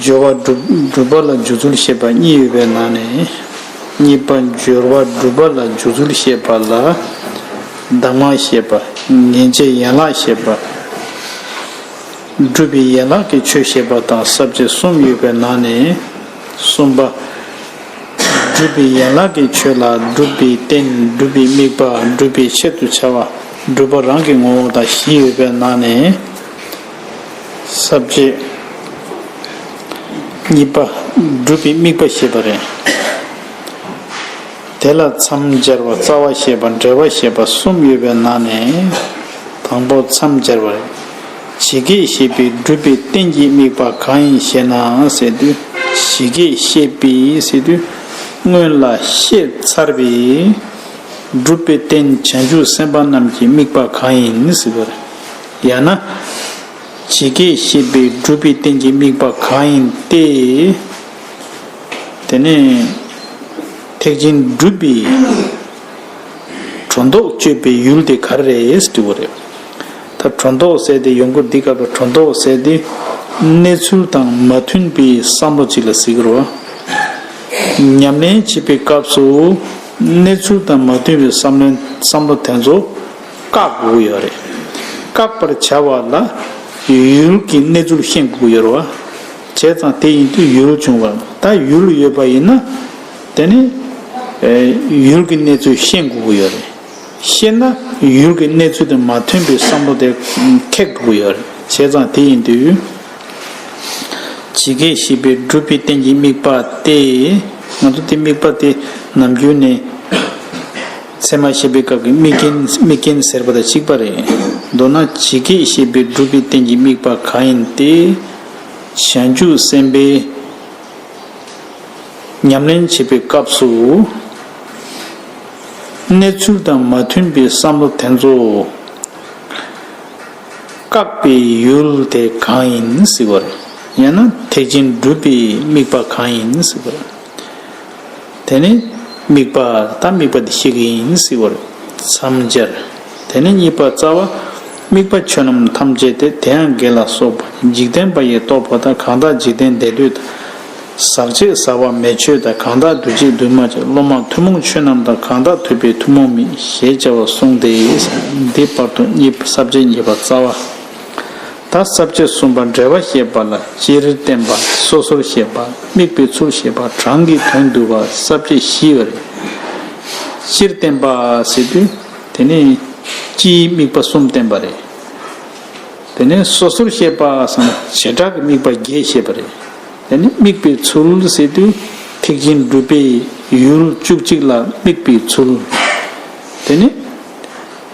སྦྱོར་བ་སྒྲུབ་པ་ལ་འཇུག་ཚུལ་ཤེས་པ་གཉིས་ཡོད་པའི་ནང་ནས་གཉིས་པ་སྦྱོར་བ་སྒྲུབ་པ་ལ་འཇུག་ཚུལ་ཤེས་པ་ལ་གདམས་ངག་ཤེས་པ་ངེས་འབྱེད་ཡན་ལག་ཤེས་པ། སྒྲུབ་པའི་ཡན་ལག་གི་ཆོས་ཤེས་པ་དང་བསྲབ་བྱ་གསུམ་ཡོད་པའི་ནང་ནས་གསུམ་པ། སྒྲུབ་པའི་ཡན་ལག་གི་ཆོས་ལ་སྒྲུབ་པའི་རྟེན་སྒྲུབ་པའི་དམིགས་པ་སྒྲུབ་པའི་ཆེད་དུ་བྱ་བ་སྒྲུབ་པ་རང་གི་ངོ་བོ་དང་གཞི་ཡོད་པའི་ནང་ནས་ཟབ་རྒྱས། གཉིས་པ། སྒྲུབ་པའི་དམིགས་པ་ཞེས་པ་རེད། དེ་ལ་མཚམས་སྦྱར་བ་རྩ་བ་ཞེས་པ་འབྲེལ་བ་ཞེས་པ་གསུམ་ཡོད་པའི་ནང་ནས་དང་པོ་མཚམས་སྦྱར་བ་རེད། ཇི་སྐད་བཤད་པའི་སྒྲུབ་པའི་རྟེན་གྱི་དམིགས་པ་གང་ཡིན་ཞེ་ན་ཟེར་དུས་ཇི་སྐད་བཤད་པའི་ཟེར་དུས་སྔོན་ལ་བཤད་ཚར་བའི་སྒྲུབ་པའི་རྟེན་བྱང་ཆུབ་སེམས་དཔའ་རྣམས་ཀྱི་དམིགས་པ་གང་ཡིན་ཟེར་བ་རེད། ཡང་ན། ཇི་སྐད་བཤད་པའི་སྒྲུབ་པའི་རྟེན་གྱི་དམིགས་པ་གང་ཡིན་ཏེ། དེ་ནས། ཐེག་ཆེན་སྒྲུབ་པའི་གྲོ་མདོག་སྤྱོད་པའི་ཡུལ་དེ་ག་རེ་རེད་དྲི་བ་རེད། ད་གྲོ་མདོག་བསལ་ཏེ་ཡོང་གི་འདི་སྐབས་ལ་གྲོ་མདོག་བསལ་ཏེ་གནས་ཚུལ་དང་མ་མཐུན་པའི་བསམ་བློ་ཅིག་ལ་གཟིགས་ཀི་རོགས། ཉམས་ལེན་བྱེད་པའི་སྐབས་སུ་གནས་ཚུལ་དང་མ་མཐུན་པའི་བསམ་བློ་དེ་ཚོ། བཀག་དགོས་ཡོད་རེད། བཀག་པར་བྱ་བ་ལ་ཡུལ་གྱི་གནས་ཚུལ་ཤེས་དགོས་ཡོད་རེད། བྱས་ཙང་དེ་ཡིན་དུས་ཡུལ་བྱུང་བ་ད་ཡུལ་ཡོད་པ་ཡིན་ན། དེ་ནི་ཡུལ་གྱི་གནས་ཚུལ་ཤེས་དགོས་ཡོད་རེད། ཤེས་ན་ཡུལ་གྱི་གནས་ཚུལ་དང་མ་མཐུན་པའི་བསམ་བློ་དེ་འཁེལ་དགོས་ཡོད་རེད། བྱས་ཙང་དེ་ཡིན་དུས། ཇི་སྐད་བཤད་པའི་སྒྲུབ་པའི་རྟེན་གྱི་དམིགས་པ་སྟེ། ང་ཚོ་དེ་དམིགས་པ་དེ་ནམ་རྒྱུན་ནས། ཚད་མ་བཤད་པའི་སྐབས་ཀྱི་དམིགས་རྐྱེན་དམིགས་རྐྱེན་ཟེར་བ་དང་གཅིག་པ་རེད། མདོར་ན་ཇི་སྐད་བཤད་པའི་སྒྲུབ་པའི་རྟེན་གྱི་དམིགས་པ་གང་ཡིན་ཏེ། བྱང་ཆུབ་སེམས་དཔའི་ཉམས་ལེན་བྱེད་པའི་སྐབས་སུ། གནས་ཚུལ་དང་མ་མཐུན་པའི་བསམ་བློ་དེ་ཚོ་བཀག་པའི་ཡུལ་དེ་གང་ཡིན་ཟེར་བ། ཡང་ན་ཐེག་ཆེན་སྒྲུབ་པའི་དམིགས་པ་གང་ཡིན་ཟེར་བ། དེ་ནི་དམིགས་པ་ད་དམིགས་པ་འདི་ཤེས་ཀྱི་ཡིན་སྲིད་བར་མཚམས་སྦྱར། དེ་ནས་གཉིས་པ་རྩ་བ། དམིགས་པ་ཆོས་རྣམས་ཐམས་ཅད་དེ་དེའང་དགེ་ལ་སོགས་པ་འཇིག་རྟེན་པ་ཡི་རྟོག་པ་དང་གང་དག་འཇིག་རྟེན་འདས་དུས་དང། ཟག་བཅས་ཟག་པ་མེད་ཆོས་དང་གང་དག་འདུ་བྱེད་འདུས་མ་བྱས་བློ་མ་ཐུན་མོང་ཆོས་རྣམས་དང་གང་དག་ཐོས་པའི་ཐུན་མོང་མིན་ཞེས་བྱ་བ་གསུངས་ཏེ། འདི་བར་དུ་གཉིས་པ་ས་བཅད་གཉིས་པ་རྩ་བ། ད་རྩ་བཅད་གསུམ་པ་འགྲེལ་བ་ཞེས་པ་ལ་སྤྱིར་བསྟན་པ་སོ་སོར་བཤད་པ་དམིགས་པའི་ཚུལ་ཞེས་པ་གྲངས་ཀྱི་དོན་བསྡུ་བ་རྩ་བཅད་བཞི་བ་རེད། སྤྱིར་བསྟན་པ་ཟེར་དུས་དེ་ནི་སྤྱིའི་དམིགས་པ་གསུམ་བསྟན་པ་རེད། དེ་ནས་སོ་སོར་བཤད་པ་སམ་བྱེ་བྲག་གི་དམིགས་པ་བརྒྱད་བཤད་པ་རེད། དེ་ནི་དམིགས་པའི་ཚུལ་ཟེར་དུས་ཐེག་ཆེན་སྒྲུབ་པའི་ཡུལ་བཅུ་གཅིག་ལ་དམིགས་པའི་ཚུལ། དེ་ནི།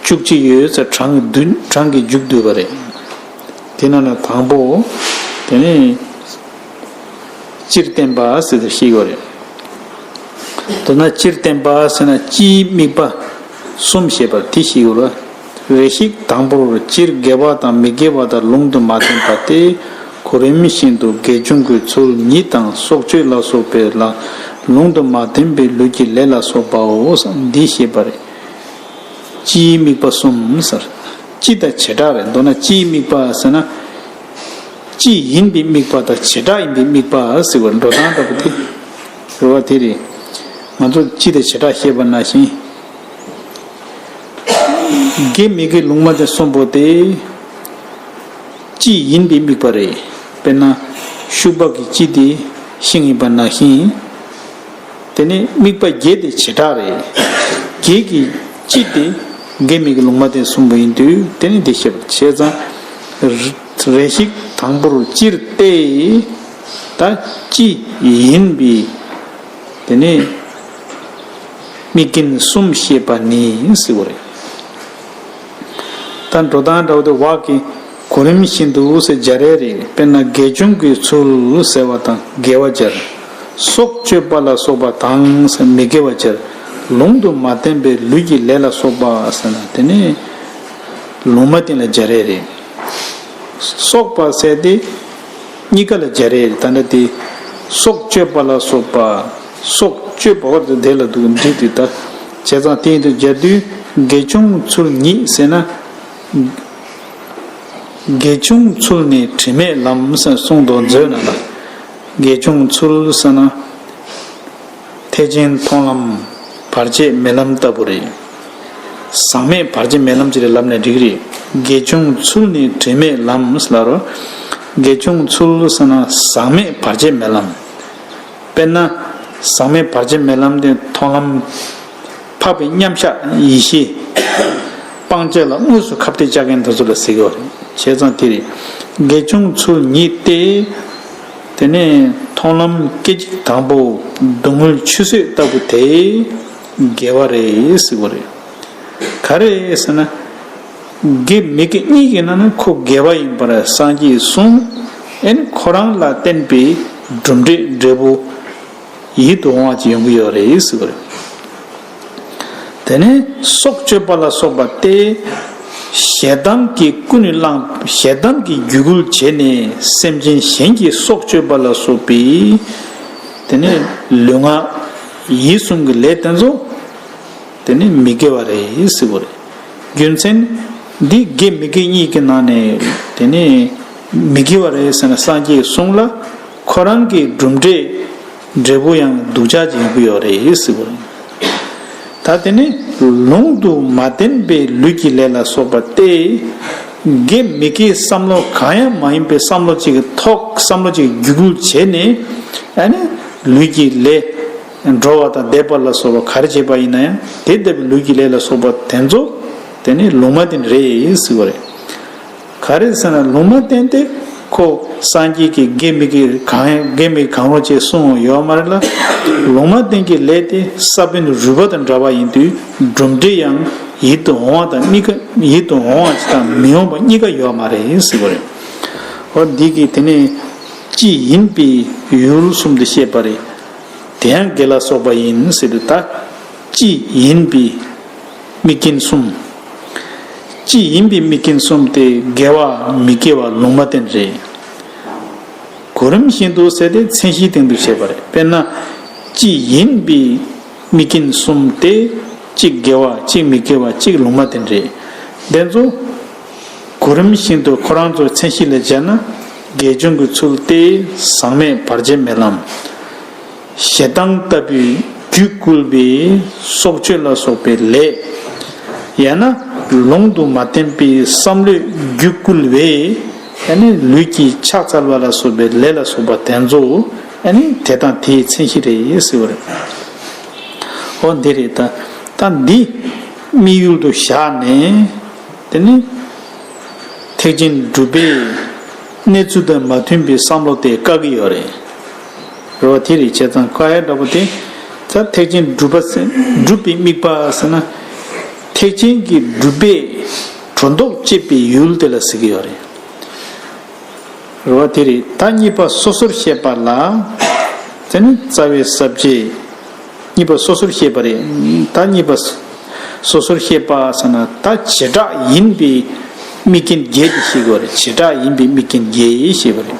བཅུ་གཅིག་ཡོད་ཚད་གྲངས་ཀྱི་བསྡུས་གྲངས་ཀྱིས་འཇུག་འདོད་པ་རེད། དེ་ན་ན་དང་པོ། དེ་ནས། སྤྱིར་བསྟན་པ་ཟེར་བ་ཞིག་ཡོད་རེད། དེ་ན་སྤྱིར་བསྟན་པ་ཟེར་ན་སྤྱིའི་དམིགས་པ་གསུམ་ཞེས་པར་དེ་ཞིག་ཡོད་རེད། རེ་ཞིག་དང་པོར་སྤྱིར་དགེ་བ་དང་མི་དགེ་བ་དག་ལུང་དུ་མ་བསྟན་པ་སྟེ། གོ་རིམ་བཞིན་དུ་དགེ་སྦྱོང་གི་ཚུལ་ཉིད་དང་སྲོག་གཅོད་ལ་སོགས་པའི་ལ། ལུང་དུ་མ་བསྟན་པའི་ལུས་ཀྱི་ལས་ལ་སོགས་པའོ། འདི་ཞེས་པ་རེད། སྤྱིའི་དམིགས་པ་གསུམ་ཟེར། སྤྱི་དང་བྱེ་བྲག་རེད་མདོར་ན་སྤྱིའི་དམིགས་པ་ཟེར་ན། སྤྱི་ཡིན་པའི་དམིགས་པ་དང་བྱེ་བྲག་ཡིན་པའི་དམིགས་པ་ཟེར་བའི་འགྲོ་སྟངས་ལྟ་བུ་སྟེ། རེ་བ་དེ་རེད། ང་ཚོར་སྤྱི་དང་བྱེ་བྲག་ཤེས་པ་ན་བཞིན། དགེ་མི་དགེ་ལུང་མ་བསྟན་གསུམ་པོ་དེ། སྤྱི་ཡིན་པའི་དམིགས་པ་རེད། དཔེར་ན། ཤུག་པགས་ཀྱི་སྤྱི་དེ་ཤིང་ཡིན་པ་ན་བཞིན། དེ་ནི་དམིགས་པ་བརྒྱད་དེ་བྱེ་བྲག་རེད། བརྒྱད་ཀྱི་གཅིག་དེ་འགལ་མེད་ཀྱི་ལུང་མ་བསྟན་གསུམ་པོ་ཡིན་དུས་དེ་ནི་འདི་ཞེས་པ་བྱས་ཙང་རེ་ཞིག་དང་པོར་སྤྱིར་ཏེ། ད་ཅི་ཡིན་པས་དེ་ནི་དམིགས་རྐྱེན་གསུམ་ཞེས་པ་ནི་ཟེར་བ་རེད། ད་འགྲོ་དང་འདྲ་བ་དེ་བག་གི། གོ་རིམ་བཞིན་དུ་འུ་སེ་འཇའ་རས་རིག་དཔེར་ན་དགེ་སྦྱོང་གི་ཚུལ་ཟེར་བ་དང་དགེ་བ་སྦྱར། སྲོག་གཅོད་པ་ལ་སོགས་པ་དང་མི་དགེ་བ་སྦྱར། ལུང་དུ་མ་བསྟན་པའི་ལུས་ཀྱི་ལས་ལ་སོགས་པ་ཟེར་ན་དེ་ནི་ལུང་མ་བསྟན་ལ་འཇའ་རས་རིག། སོགས་པ་བསལ་ཏེ། གཉིས་ཀ་ལ་འཇའ་རས་རིག་ད་འདྲ་སྟེ། སྲོག་གཅོད་པ་ལ་སོགས་པ། སྲོག་གཅོད་པ་བར་དུ་དེ་ལ་འདུས་ཏེ་དག། བྱས་ཙང་དེ་ཡིན་དུ་སྦྱར་དུས་དགེ་སྦྱོང་ཚུལ་ཉིད་ཟེར་ན། དགེ་ཆུང་ཚུལ་ནི་དྲི་མེད་ལམ་གསུང་དུ་མཛོད་ན་ལ། དགེ་ཆུང་ཚུལ་ས་ན་ཐེག་ཆེན་མཐོང་ལམ་བར་ཆད་མེད་ལམ་ལྟ་བུ་རེད། ཟག་མེད་བར་ཆད་མེད་ལམ་ཅི་རེད་ལབ་ནས་འགྲིག་རེད། དགེ་ཆུང་ཚུལ་ནི་དྲི་མེད་ལམ་སླར་རོ། དགེ་ཆུང་ཚུལ་ས་ན་ཟག་མེད་བར་ཆད་མེད་ལམ། དཔེར་ན། ཟག་མེད་བར་ཆད་མེད་ལམ་དེ་མཐོང་ལམ། འཕགས་པའི་མཉམ་གཞག་ཡེ་ཤེས། སྤང་བྱ་ལ་དངོས་སུ་ཁ་བརྡའི་ལྕགས་མཁན་དེ་ཚོ་ལ་གཟིགས་རོགས། བྱས་ཙང་དེ་རེད། དགེ་ཆུང་ཚུལ་ཉིད་སྟེ། དེ་ནས་མཐོང་ལམ་སྐད་ཅིག་དང་པོ་བསྡུ་དངོས་ཆུད་ཟོས་ལྟ་བུ་དེ། དགེ་བ་རེད་གཟིགས་པོ་རེད། ག་རེ་ཟེར་ན། དགེ་མི་དགེ་གཉིས་ཀྱི་ནང་ནས་ཁོ་དགེ་བ་ཡིན་པར་སངས་རྒྱས་གསུངས། ཨེ་ནི་ཁོ་རང་ལ་བསྟན་པའི་གྲུབ་འབྲས་འབྲས་བུ། ཡིད་དུ་འོང་བ་ཅིག་ཡོང་གི་ཡོད་རེད་ཟེར་གྱི་རེད། དེ་ནས་སྲོག་གཅོད་པ་ལ་སོགས་པ་སྟེ། ཞེ་སྡང་གིས་ཀུན་ནས་བསླངས་ཞེ་སྡང་གིས་རྒྱུད་སྐུལ་བྱས་ནས་སེམས་ཅན་གཞན་གྱི་སྲོག་གཅོད་པ་ལ་སོགས་པའི། དེ་ནས་ལུས་ངག་ཡིད་གསུམ་གྱི་ལས་དེ་ཚོ། དེ་ནི་མི་དགེ་བ་རེད་ཟེར་གྱི་རེད། རྒྱུ་མཚན། འདི་དགེ་མི་དགེ་གཉིས་ཀྱི་ནང་ནས་དེ་ནི་མི་དགེ་བ་རེད་ཟེར་ན་སངས་རྒྱས་གསུངས་ལ། ཁོ་རང་གི་གྲུབ་འབྲས་འབྲས་བུ་ཡང་སྡུག་ཅག་ཅིག་ཡོང་གི་ཡོད་རེད་ཟེར་གི་རེད། ད་དེ་ནི་ལུང་དུ་མ་བསྟན་པའི་ལུས་ཀྱི་ལས་ལ་སོགས་པ་སྟེ། དགེ་མི་དགེའི་བསམ་བློ་གང་ཡང་མ་ཡིན་པའི་བསམ་བློ་ཅིག་གི་ཐོག་བསམ་བློ་ཅིག་བརྒྱུད་སྐུལ་བྱས་ནས་ཨ་ནི་ལུས་ཀྱི་ལས། འགྲོ་བ་དང་བསྡེབས་པ་ལ་སོགས་པ་ག་རེ་བྱས་པ་ཡིན་ན་ཡང་དེ་ལྟ་བུའི་ལུས་ཀྱི་ལས་ལ་སོགས་པ་དེ་ཚོ་དེ་ནི་ལུང་མ་བསྟན་རེད་ཟེར་གི་རེད། ག་རེད་ཟེར་ན་ལུང་མ་བསྟན་ཏེ། ཁོ་སངས་རྒྱས་ཀྱི་དགེ་མི་དགེ་གང་དགེ་མི་གང་རུང་བཅས་གསུང་འོང་ཡོད་མ་རེད་ལ། ལུང་མ་བསྟན་གྱི་ལས་དེ་ས་བོན་རུལ་པ་དང་འདྲ་བ་ཡིན་དུས་གྲུབ་འབྲས་ཡང་ཡིད་དུ་འོང་བ་དང་གཉིས་ཀ་ཡིད་དུ་འོང་བ་དང་མི་འོང་བ་གཉིས་ཀ་ཡོད་མ་རེད་ཟེར་གྱི་རེད། འོ་འདི་གིས་དེ་ནས་ཅི་ཡིན་དཔེའི་ཡུལ་གསུམ་དུ་བཤད་པ་རེད། དེ་ཡང་དགེ་ལ་སོགས་པ་ཡིན་ཟེར་དུས་ད་ཅི་ཡིན་དཔེའི། དམིགས་རྐྱེན་གསུམ། ཅི་ཡིན་པའི་དམིགས་རྐྱེན་གསུམ་སྟེ་དགེ་བ་མི་དགེ་བ་ལུང་མ་བསྟན་རེད། གོ་རིམ་བཞིན་དུ་བསལ་ཏེ་མཚན་གཞིའི་སྟེང་དུ་བྱས་པ་རེད། དཔེར་ན། ཅི་ཡིན་པའི་དམིགས་རྐྱེན་གསུམ་སྟེ། གཅིག་དགེ་བ་གཅིག་མི་དགེ་བ་གཅིག་ལུང་མ་བསྟན་རེད། དེ་ཚོ། གོ་རིམ་བཞིན་དུ་ཁོ་རང་ཚོའི་མཚན་གཞི་ལས་འཇལ་ན། དགེ་སྦྱོང་གི་ཚུལ་ཏེ་ཟག་མེད་བར་ཆད་མེད་ལམ། ཞེ་སྡང་ལྟ་བུས་རྒྱུད་བསྐུལ་བས་སྲོག་གཅོད་ལ་སོགས་པའི་ལས། ཡང་ན་ལུང་དུ་མ་བསྟན་པའི་བསམ་བློས་རྒྱུད་བསྐུལ་བས་ཡང་ན་ལུས་ཀྱི་ཕྱག་འཚལ་བ་ལ་སོགས་པའི་ལས་ལ་སོགས་པ་དེ་ཚོ་ཡང་ན་དེ་དང་དེའི་མཚན་གཞི་རེད་ཟེར་བ་རེད། འོ་འདི་རེད་ད། ད་འདི་དམིགས་ཡུལ་དུ་བཞག་ནས། དེ་ནི་ཐེག་ཆེན་སྒྲུབ་པའི་གནས་ཚུལ་དང་མ་མཐུན་པའི་བསམ་བློ་དེ་བཀག་གི་ཡོད་རེད། རེ་བ་དེ་རེད་བྱས་ཙང་ཀ་ཧའི་འདྲ་པོ་དེ་ལྟར་ཐེག་ཆེན་སྒྲུབ་པ་སྒྲུབ་པའི་དམིགས་པ་ཟེར་ན། ཐེག་ཆེན་གྱི་སྒྲུབ་པས་གྲོ་མདོག་བསྐྱེད་པའི་ཡུལ་དེ་ལ་ཟེར་གྱི་ཡོད་རེད། རེ་བ་དེ་རེད་ད་གཉིས་པ་སོ་སོར་བཤད་པ་ལ། དེ་ནི་རྩ་བའི་ཟབ་ཆོས་གཉིས་པ་སོ་སོར་བཤད་པ་རེད་ད་གཉིས་པ་སོ་སོར་བཤད་པ་ཟེར་ན་ད་བྱེ་བྲག་ཡིན་པའི་དམིགས་རྐྱེན་བརྒྱད་དེ་བཤད་གི་ཡོད་རེད་བྱེ་བྲག་ཡིན་པའི་དམིགས་རྐྱེན་བརྒྱད་ཞེས་པ་རེད།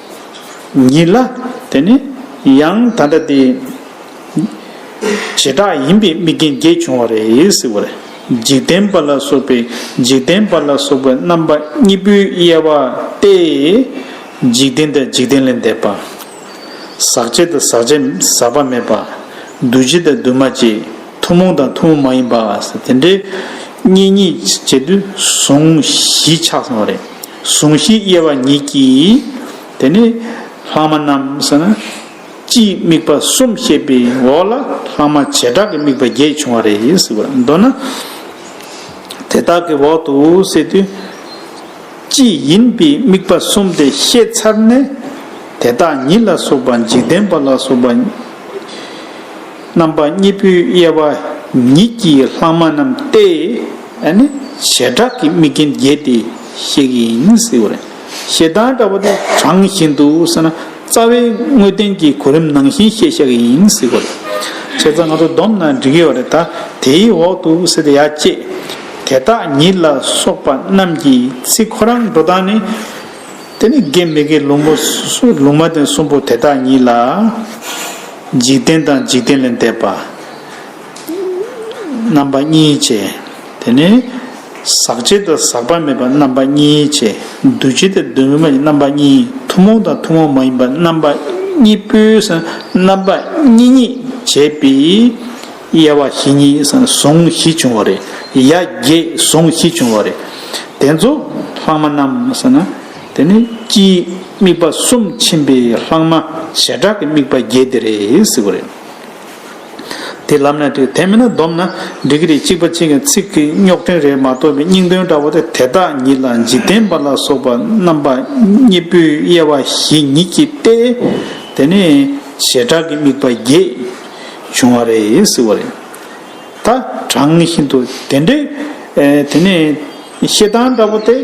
ཉིད་ལ། དེ་ནི་ཡང་ད་ལྟ་དེ། བྱེ་བྲག་ཡིན་པའི་དམིགས་རྐྱེན་བརྒྱད་བྱུང་བ་རེད་ཟེར་བ་རེད། འཇིག་རྟེན་པ་ལ་སོགས་པའི་འཇིག་རྟེན་པ་ལ་སོགས་པའི་རྣམ་པ་གཉིས་པོའི་དབྱེ་བ་སྟེ། འཇིག་རྟེན་དང་འཇིག་རྟེན་ལས་འདས་པ། ཟག་བྱེད་དང་ཟག་བྱེད་ཟག་པ་མེད་པ། འདུ་བྱེད་དང་འདུས་མ་བྱས་ཐུན་མོང་དང་ཐུན་མོང་མ་ཡིན་པ། དེ་འདྲའི་གཉིས་གཉིས་བྱེད་དུ་ཟུང་བཞི་ཆགས་སོང་བ་རེད། ཟུངས་ཤིང་དབྱེ་བ་ཉིད་ཀྱིས། དེ་ནས་ལྷག་མ་རྣམས་ཟེར་ན། སྤྱིའི་དམིགས་པ་གསུམ་བཤད་པའི་འོག་ལ་ལྷག་མ་བྱེ་བྲག་གི་དམིགས་པ་བརྒྱད་བྱུང་བ་རེད་ཟེར་བ་མདོར་ན། དེ་དག་གི་འོག་ཏུ་བསྲེས་དུས། སྤྱི་ཡིན་པའི་དམིགས་པ་གསུམ་དེ་ཤེས་ཚར་ནས། དེ་དག་ཉིད་ལ་སོགས་པ་འཇིག་རྟེན་པ་ལ་སོགས་པ། རྣམ་པ་གཉིས་པོའི་དབྱེ་བ་ཉིད་ཀྱིས་ལྷག་མ་རྣམས་ཏེ། ཨ་ནི་བྱེ་བྲག་གི་དམིགས་རྐྱེན་བརྒྱད་དེ་གཤེགས་ཡིན་ཟེར་བ་རེད། ཞེ་སྡང་འདྲ་བོ་དེ་གྲངས་བཞིན་དུ་བསྲེས་ན་རྩ་བའི་དངོས་བསྟན་གྱི་གོ་རིམ་ནང་བཞིན་བཤད་ཤག་གི་ཡིན་ཟེར་བ་རེད། བྱས་ཙང་ང་ཚོ་བསྡོམས་ན་འགྲིག་ཡོད་བ་རེད་ད་དེའི་འོག་ཏུ་བསྲེས་ད་ཡ་ཅེས། དེ་དག་ཉིད་ལ་སོགས་པ་རྣམས་ཀྱི་ཚིག་ཁོ་རང་འགྲོ་སྟངས་ནི། དེ་ནི་དགེ་མི་དགེ་ལུང་པོ་ལུང་མ་བསྟན་གསུམ་པོ་དེ་དག་ཉིད་ལ། འཇིག་རྟེན་དང་འཇིག་རྟེན་ལས་འདས་པ། རྣམ་པ་གཉིས་བྱས། དེ་ནས། ཟག་བྱེད་དང་ཟག་པ་མེད་པ་རྣམ་པ་གཉིས་བྱས། འདུ་བྱེད་དང་འདུ་མེད་པ་རྣམ་པ་གཉིས་ཐུན་མོང་དང་ཐུན་མོང་མ་ཡིན་པ་རྣམ་པ་གཉིས་པོས་རྣམ་པ་གཉིས་གཉིས་བྱས་པས། དབྱེ་བ་བཞི་གཉིས་ཟུང་བཞི་བྱུང་བ་རེད། ཡ་བརྒྱད་ཟུང་བཞི་བྱུང་བ་རེད། དེ་ཚོ་ལྷག་མ་རྣམས་ཟེར་ན། དེ་ནི་སྤྱིའི་དམིགས་པ་གསུམ་ཕྱིན་པའི་ལྷག་མ་བྱེ་བྲག་གི་དམིགས་པ་བརྒྱད་དེ་རེད་ཟེར་བ་རེད། དེ་ལབ་ན་འགྲིག་དེ་མིན་ན་བསྡོམས་ན་འགྲིག་གི་རེད་གཅིག་པ་གཅིག་གི་ཚིག་གི་རྙོག་དྲུང་རེད་མ་གཏོགས་པའི་སྙིང་དོན་འདྲ་བོ་དེ་དེ་དག་ཉིད་ལ་འཇིག་རྟེན་པ་ལ་སོགས་པ་རྣམ་པ་གཉིས་པོའི་དབྱེ་བ་ཞིག་ཉིད་ཀྱིས་ཏེ། དེ་ནི་བྱེ་བྲག་གི་དམིགས་པ་བརྒྱད་བྱུང་བ་རེད་ཟེར་བ་རེད། ད་དྲང་བཞིན་དུ་དེ་འདྲའི། དེ་ནི། ཞེ་སྡང་འདྲ་པོ་དེ།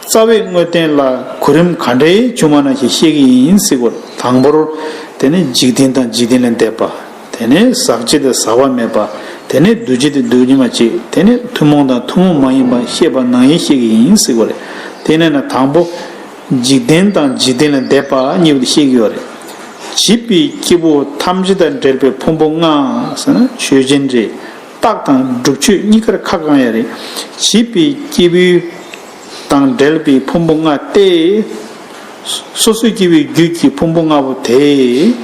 རྩ་བའི་དངོས་བསྟན་ལ་གོ་རིམ་ག་འདྲའི་བྱུང་བ་ན་ཞེས་བཤད་ཀྱི་ཡིན་སྲིད་གོ། དང་པོར། དེ་ནི་འཇིག་རྟེན་དང་འཇིག་རྟེན་ལས་འདས་པ། དེ་ནི་ཟག་བྱེད་དང་ཟག་པ་མེད་པ། དེ་ནི་འདུ་བྱེད་དང་འདུ་བྱེད་མ་བྱེད། དེ་ནི་ཐུན་མོང་དང་ཐུན་མོང་མ་ཡིན་པ་ཤེས་པ་ནང་ཡིན་བཤད་ཀྱི་ཡིན་སྲིད་གོ། དེ་ནས་ན་དང་པོ། འཇིག་རྟེན་དང་འཇིག་རྟེན་ལས་འདས་པ་གཉིས་པ་དེ་བཤད་ཀྱི་ཡོད་རེད། བྱིས་པའི་སྐྱེ་བོ་ཐམས་ཅད་དང་འབྲེལ་པའི་ཕུང་པོ་ལྔའང་ཆོས་ཅན་རེད། རྟགས་དང་སྒྲུབ་མཆོད་གཉིས་ཀར་ཁ་བསྐང་ཡང་རེད། བྱིས་པའི་སྐྱེས་བུ་དང་འབྲེལ་པའི་ཕུང་པོ་ལྔ་སྟེ། སོ་སོའི་སྐྱེས་བུའི་རྒྱུད་ཀྱི་ཕུང་པོ་ལྔ་པོ་དེ།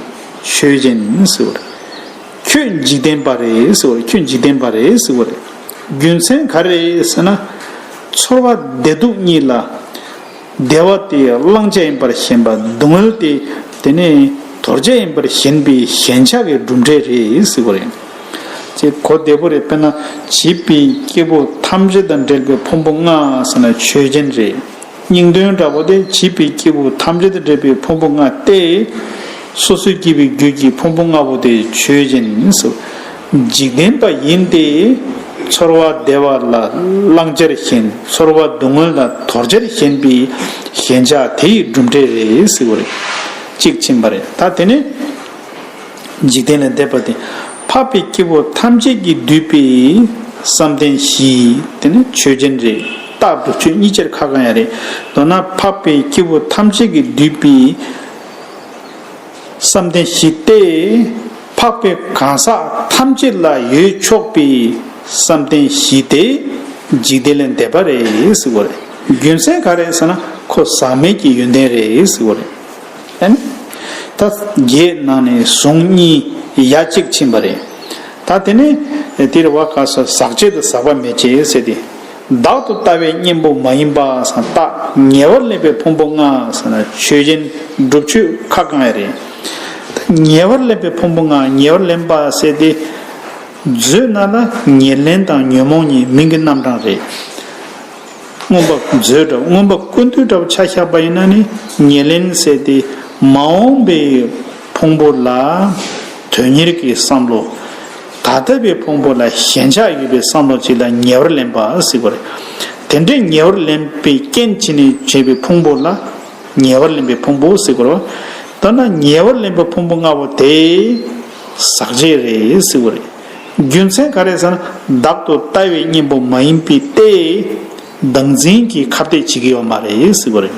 ཆོས་ཅན། ཁྱོད་འཇིག་རྟེན་པ་རེད། ཁྱོད་འཇིག་རྟེན་པ་རེད། རྒྱུ་མཚན་ག་རེད་ཟེར་ན། ཚོར་བ་བདེ་སྡུག་གཉིས་ལ། བདེ་བ་དེ་བླང་བྱ་ཡིན་པར་ཞེན་པ་སྡུག་བསྔལ་དེ་དེ་ནི་དོར་བྱ་ཡིན་པར་ཞེན་པའི་ཞེན་ཆགས་ཀྱི་གྲུབ་འབྲས་རེད་ཟེར་བ་རེད། ཅེས་གོ་བདེ་པོ་རེད་དཔེར་ན་བྱིས་པའི་སྐྱེ་བོ་ཐམས་ཅད་དང་འབྲེལ་པའི་ཕུང་པོ་ལྔ་ཟེར་ན་ཆོས་ཅན་རེད། སྙིང་དོན་འདྲ་བོ་དེ་བྱིས་པའི་སྐྱེ་བོ་ཐམས་ཅད་དང་འབྲེལ་པའི་ཕུང་པོ་ལྔ་སྟེ། སོ་སོའི་སྐྱེས་པའི་རྒྱུད་ཀྱི་ཕུང་པོ་ལྔ་པོ་དེ་ཆོས་ཅན། འཇིག་རྟེན་པ་ཡིན་ཏེ། ཚོར་བ་བདེ་བ་ལ་བླང་བྱར་ཞེན་ཚོར་བ་སྡུག་བསྔལ་ལ་དོར་བྱར་ཞེན་པའི་ཞེན་ཆགས་དེ་ཡི་གྲུབ་འབྲས་རེད་ཟེར་བ་རེད། གཅིག་ཕྱིན་པ་རེད་ད་དེ་ནས། འཇིག་རྟེན་ལས་འདས་པ་དེ་འཕགས་པའི་སྐྱེ་བོ་ཐམས་ཅད་ཀྱིས་བསྡུས་པའི་བསམ་གཏན་བཞི་དེ་ནི་ཆོས་ཅན་རེད་རྟག་ཏུ་ཆོས་ཉིད་ཅེར་ཁ་གང་ཡང་རེད། མདོར་ན་འཕགས་པའི་སྐྱེ་བོ་ཐམས་ཅད་ཀྱིས་བསྡུས་པའི། བསམ་གཏན་བཞི་སྟེ། འཕགས་པའི་གང་ཟག་ཐམས་ཅད་ལ་ཡོད་ཆོག་པའི་བསམ་གཏན་བཞི་སྟེ། འཇིག་རྟེན་ལས་འདས་པ་རེད་ཟེར་བ་རེད། རྒྱུ་མཚན་ག་རེད་ཟེར་ན་ཁོ་ཟག་མེད་ཀྱི་ཡོན་ཏན་རེད་ཟེར་བ་རེད། ཨེ་ནི། ད་རྒྱའི་ནང་ནས་གཟུངས་གཉིས་ཡ་གཅིག་ཕྱིན་པ་རེད། ད་དེ་ནས་དེར་བ་ག་སོགས་ཟག་བཅས་དང་ཟག་པ་མེད་ཅེས་ཟེར་ཏེ། བདག་ཏུ་ལྟ་བའི་གཉེན་པོ་མ་ཡིན་པ་སངས་རྟགས་ཉེ་བར་སླེབ་པའི་ཕུང་པོ་ལྔ་སངས་ན་ཆོས་ཅན་སྒྲུབ་ཆོས་ཁ་བསྐང་ཡ་རེད། ཉེ་བར་སླེབ་པའི་ཕུང་པོ་ལྔ་ཉེ་བར་ལེན་པ་བསལ་ཏེ། མཛོད་ན་ལ་ཉེར་ལེན་དང་ཉོན་མོངས་གཉིས་མིང་གི་རྣམ་གྲངས་རེད། མངོན་པ་མཛོད་འདྲ་བོ་མངོན་པ་ཀུན་འདུས་འདྲ་བོ་ཆ་ཤ་པ་ཡིན་ན་ནི་ཉེར་ལེན་བསལ་ཏེ། མ་འོངས་པའི་ཕུང་པོ་ལ་དོན་གཉེར་གྱི་བསམ་བློ། ད་ལྟ་བའི་ཕུང་པོ་ལ་ཞེན་ཆགས་ཡོད་པའི་བསམ་བློ་གཅིག་ལ་ཉེ་བར་ལེན་པ་གཟིགས་པ་རེད། དེ་འདྲའི་ཉེ་བར་ལེན་པའི་རྐྱེན་གྱིས་ནི་བྱས་པའི་ཕུང་པོ་ལ་ཉེ་བར་ལེན་པའི་ཕུང་པོ་གཟིགས་པར་བ། མདོར་ན་ཉེ་བར་ལེན་པའི་ཕུང་པོ་ལྔ་པོ་དེ་ཟག་བཅས་རེད་གཟིགས་པ་རེད། རྒྱུ་མཚན་ག་རེ་ཟེར་ན་བདག་ཏུ་ལྟ་བའི་གཉེན་པོ་མ་ཡིན་པས་ཏེ། བདག་འཛིན་གྱིས་ཁ་གཏད་བྱེད་ཀྱི་ཡོད་མ་རེད་གཟིགས་པ་རེད།